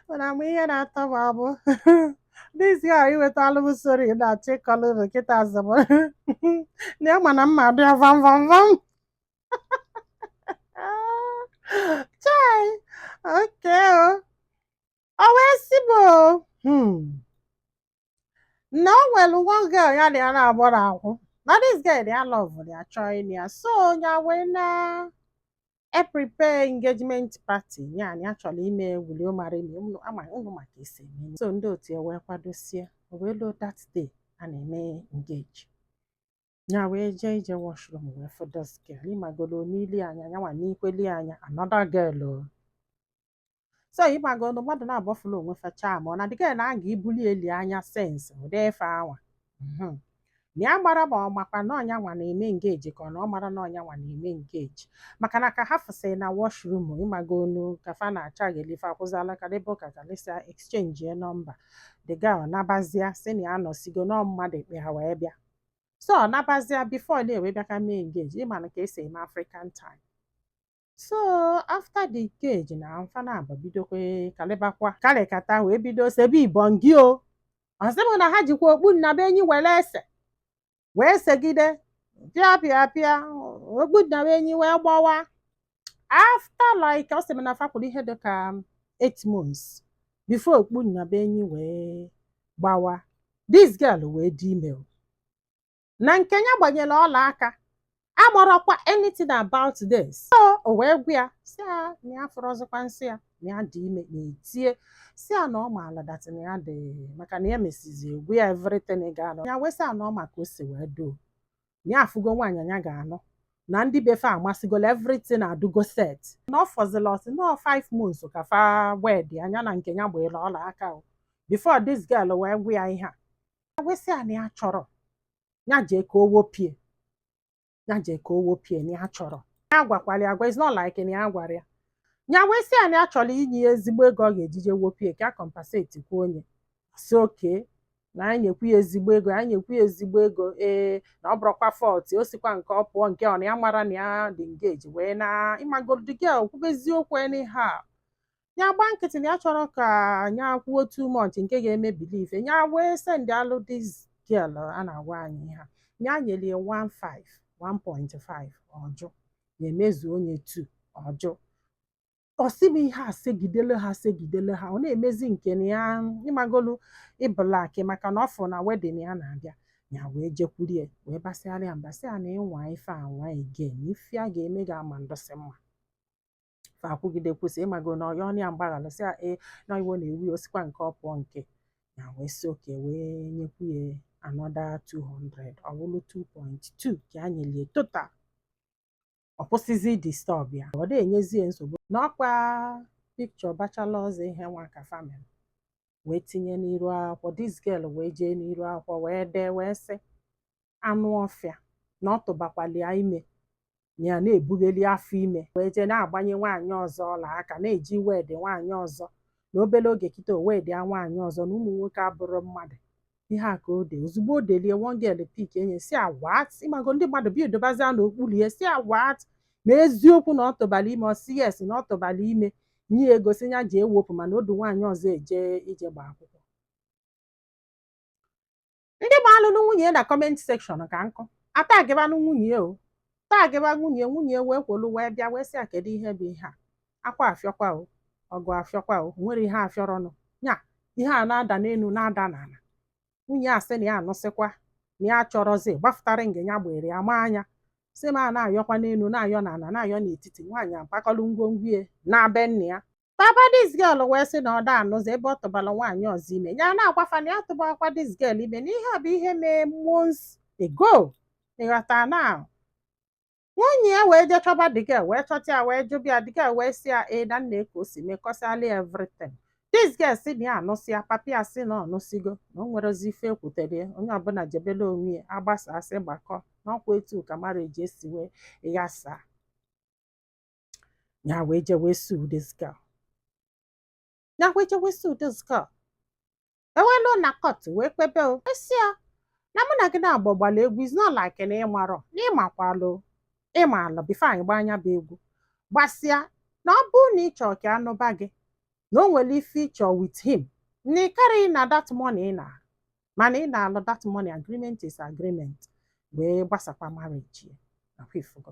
mana mgbe ihe na-atọ m amụ n'isi a iwetala m story na-achọ ịkọlụ ụnụ kịta azụ m na ya mana mma dị ya vam vam vam chai oke o O wee sị m o hmm, na o nwere one girl ya na ya na-agbara akwụ na this girl ya love ya chọọ ịnụ ya so ya wee na-eprepare engagement party ya na ya chọrọ ime wuli ụmarị na unu ama unu ma ka esi eme so ndị otu ya wee kwadosie o wee luo that day a na-eme engage ya wee jee ije washroom wee fụ this girl ịmagolo n'ili anya ya nwa n'ikweli anya another girl o so ịmagonu mmadụ nabọ fụla onwe fa chaa ma ọ na the girl na-aga ibuli eli anya sense ụdị ife anwa Mhm. na ya mara ma ọ makwa na ọ ya nwa na-eme engage ka ọ na ọ mara na ọ ya nwa na-eme engage maka na ka ha fụsịrị na washroom ịmagonu ka fa na-acha ghelife akwụzala kalịba ụka kalịsịa exchange ya nọmba the girl nabazia si na ya nọsigo na ọ mmadụ kpọ ya wee bịa so ọ nabazia before na e wee bịa ka e mee engage ịma na ka esi eme African time so after the engage na fa nabọ bidokwa kalịbakwa kalịkata wee bido sebe ibongi o ọ sị m na ha jikwa okpu nnabuenyi were ese wee segide pịa pịa pịa okpu nnabuenyi wee gbawa after like ọ sị m na fa kwụrụ ihe dị ka eight months before okpu nnabuenyi wee gbawa this girl wee dị ime o. na nke ya gbanyere ọla aka amarọkwa anything about this so o wee gwa ya si ya na ya afụrọzikwa nsọ ya na ya dị ime ya etie sị ya na ọ maala dat na ya dị maka na ya mesizi gwa ya everything ị ga-anọ ya wee sị ya na ọ ma ka o si wee doo na ya afụgo nwaanyị ya ga-anụ na ndị be fa amasịgola everything adịgo set na ọ fọzila ọ sị na 5 months ka fa wed ya na nke ya gbere ọla aka o before this girl wee gwa ya ihe a wee sị ya na ya chọrọ ya jee ka o wopụ ya ya jee ka o wopụ ya na ya chọrọ ya agwakwala ya agwa it's not like na ya gwara ya ya wee sị ya na ya chọrọ inye ya ezigbo ego ọ ga-eji je wopụ ya ka ya compensate kwuo onye si okay na ya nyekwu ya ezigbo ego ya nyekwu ya ezigbo ego ee na ọ bụrụkwa fault o sikwa nke ọ pụọ nke ọ na ya mara na ya dị engage wee na ịmago the girl kwube eziokwu anyhow ya gba nkịtị na ya achọrọ ka ya kwuo too much nke ga-eme believe ya wee send alụ this girl a na-agwa anyị ha ya nyere ya 1.5 1.5 ọ jụ ya emezuo ya 2 ọ jụ ọ sị m ihe a segidele ha segidele ha ọ na-emezi nke na ya ịmagolu ịbụlaki maka na ọ fụ na wedding ya na-abịa ya wee jekwuru ya wee basịara ya mbasị ya na ị nwaa ife anwa again ife a ga-eme ga-ama ndụsị mma fa akwụgide kwụsị ịmago na ọ yọọnụ ya mgbaghara sị ya na iwe na-ewu ya osikwa nke ọ pụọ nke ya wee sị okay wee nyekwu ya another 200 ọ bụrụ 2.2 ka a nyelu ya total ọ kwụsịzi disturb ya ọ da enyezi ya nsogbu na ọkwa picture bachelor's eve nwa ka family wee tinye n'iru akwụkwọ this girl wee jee n'iru akwụkwọ wee dee wee sị anụ ọfịa na ọ tụbakwalụ ya ime ya na-ebughali afọ ime wee jee na-agbanye nwaanyị ọzọ ọla aka na-eje wed nwaanyị ọzọ na obere oge kịta o wedịa nwaanyị ọzọ na ụmụ nwoke abụrọ mmadụ ihe a ka o de ozugbo o delu ya one girl pik enye sị ya what ịmago ndị mmadụ bịa edebezia n'okpuru ya sị ya what ma eziokwu na ọ tụbara ime ọ sị yes na ọ tụbara ime nye ya ego sị ya jee wepụ mana o du nwaanyị ọzọ eje ije gba akwụkwọ ndị maalụnụ nwunye na comment section ka nkụ a tagịbanụ nwunye o tagịba nwunye nwunye wee kwolu wee bịa wee sị ya kedu ihe bụ ihe a akwa afịọkwa o ọgụ afịọkwa o nwerọ ihe afịọrọnụ nya ihe a na-ada n'elu na-ada n'ala nwunye asị na ya anụsịkwa na ya achọrọzi gbafụta ring ya gbere ya ma anya sị m a na-ayọkwa n'elu na-ayọ n'ala na-ayọ n'etiti nwaanyị agbakọlụ ngwongwo ya naa be nna ya papa this girl wee sị na ọ da anụzi ebe ọ tụbara nwaanyị ọzọ ime ya na-agwa fa na ya tụbakwa this girl ime na ihe a bụ ihe mee months ago ịghọta na nwunye ya wee jee chọba the girl wee chọta ya wee jụba ya the girl wee sị ya ee na nee ka o si mee kọsịala ya everything this girl sị na ya anụsịa papa ya sị na ọ nụsịgo na o nwerọzi ife e kwutere ya onye ọbụla jebele onwe ya a gbasaa asị gbakọ na ọkwa etu a ka marriage si wee ghasa ya wee je wee sue this girl ya wee je wee sue this girl e wee luo na court wee kpebe o a sị ya na mụ na gị na-agba gbalụ egwu is not like na ịmarọ na ịmakwalụ ịmalụ before anyị gbaa nya bụ egwu gbasịa na ọ bụrụ na ị chọọ ka a nụba gị na o nwere ife ị chọ with him na ị karịghị ịna that money ị na mana ị nalụ that money agreement is agreement wee gbasakwa marriage ya na ọkwa ị fụgo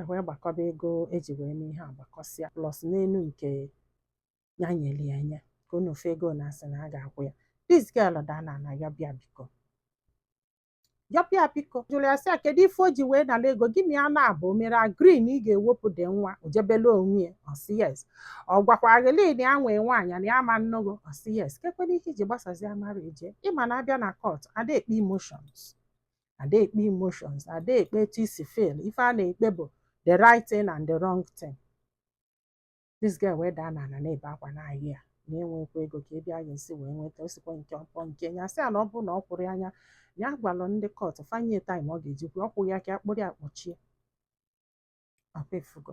e wee gbakọba ego e ji wee mee ihe a gbakọsịa plus n'elu nke ya nyere ya enye ka unu fee ego na asị na ọ ga-akwụ ya this girl daa n'ana yọba ya biko yọba ya biko jụrụ ya sị ya kedu ife o ji wee nara ego gị na ya na-abụ o mere agree na ị ga-ewepụ the nwa o jebele onwe ya ọ sị yes ọ gwakwara gị na ya nwee nwaanyị na ya ama anụ gị o ọ sị yes kekwanụ ihe i ji gbasazia marriage ịma na a bịa na court a da ekpe emotions a da ekpe emotions a da ekpe etu i si feel ife a na-ekpe bụ the right thing and the wrong thing this girl wee daa n'ala na-ebe akwa na-asị ya na ya enwekwọ ego kee ebe ya ga-esi wee nweta osikwa nke ọkpọ nke ya sị ya na ọ bụrụ na ọ kwụrọ ya na ya gwalụ ndị court fa nye time ọ ga-eji kwụọ ọ kwụghị ya ka a kpụrụ ya kpọchie ọkwa ị fụgo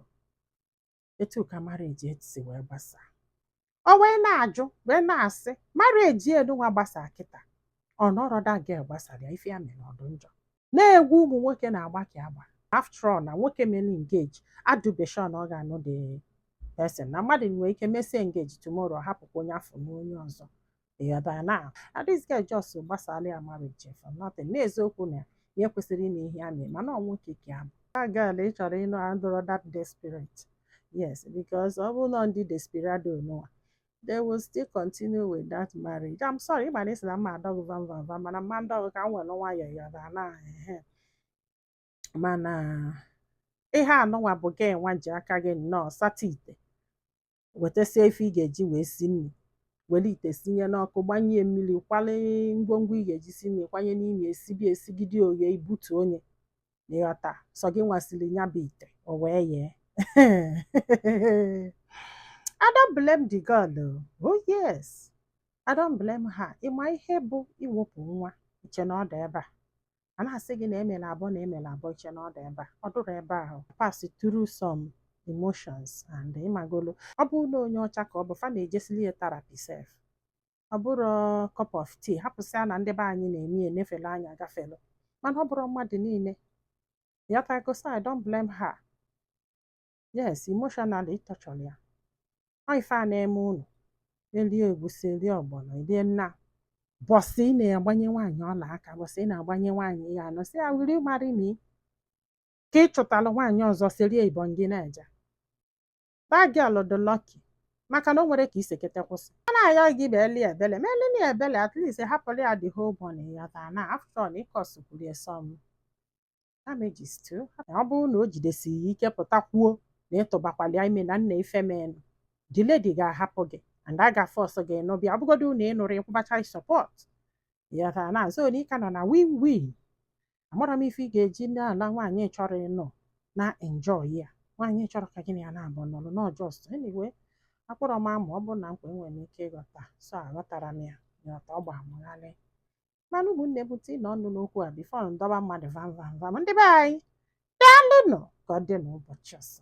etu ka marriage si wee gbasaa o wee na-ajụ wee na-asị marriage a nụnwa gbasaa kịta ọ na ọrọ that girl gbasara ya ife ya mere ọ dụ njọ na egwu ụmụ nwoke na-agba ka agba after all na nwoke mere engage adụbe sure na ọ ga-anụ the person na mmadụ nwere ike mesie engage tomorrow hapụkwa onye afụ nụọ onye ọzọ ịghọtara na this girl just gbasara ya marriage for nothing n'eziokwu na ya kwesịrị ime ihe a na-eme mana nwoke ya bụ girl ị chọrọ ịnụ adụrọ that desperate yes because ọ bụrụ na ndị desperado nụwa they will still continue with that marriage I'm sorry ịma na esi na m ma-adọ gụ vam vam vam mana m ma-adọ gụ ka m were nwayọọ ịghọta na ehe mana ihe a nụnwa bụ gị nwa ji aka gị nnọọ sata ite wetasia ife ị ga-eji wee si nri were ite sinye n'ọkụ gbanye mmiri kwale ngwongwo ị ga-eji si nri kwanye n'ime esibe esigide o yee i butuo nya ịghọta sọ gị nwa siri ya bụ ite o wee yee I don't blame the girl o. oh yes I don't blame her ịma ihe bụ iwepụ nwa iche na ọ dị ebe a a na-asị gị na emela abụọ na emela abụọ iche na ọ dị ebe a ọ dụrụ ebe ahụ pass through some emotions and ịmagolo ọ bụrụ na onye ọcha ka ọ bụ fa na-ejesili ya therapy sef ọ bụrọ cup of tea hapụsịa na ndị be anyị na-eme ya enefelu anya agafelu mana ọ bụrọ mmadụ niile ịghọtago so I don't blame her yes emotionally ị torturela ya ọ ife a na-eme unu erie egwusi erie ọgbọnọ erie nna bọsị ị na-agbanye nwaanyị ọla aka bọsị ị na-agbanye nwaanyị ya anọ sị ya will you marry me ka ị chụtara nwaanyị ọzọ serie ibon gị na-eje that girl dị lucky maka na o nwere ka isekete kwụsị a na-ayọ gị meli ebele melinụ ebele at least hapụrụ ya the whole money ịghọta na after all ị causekwuru some damages too ọ bụrụ na o jidesighị ya ike pụta kwuo na ịtụbakwala ya ime na nna ife menụ the lady ga-ahapụ gị and a ga-force gị nụba ọ bụgodu na ị nụrọ ị kwụba child support ịghọtara na so na ịka nọ na win win amarọ m ife ị ga-eji na-ala nwaanyị chọrọ ịnọ na enjoy ya nwaanyị chọrọ ka gị na ya na-abụ nọrọ na ọ just anyway akpọrọ m ama ọ bụrụ na nkwa enwere m ike ịghọta so aghọtarọ m ya nghọta ọ gba m gharịị mana ụmụnne m tiinụ ọnụ n'okwu a before m dọba mmadụ vam vam vam ndị be anyị daalụnụ ka ọ dị n'ụbọchị ọzọ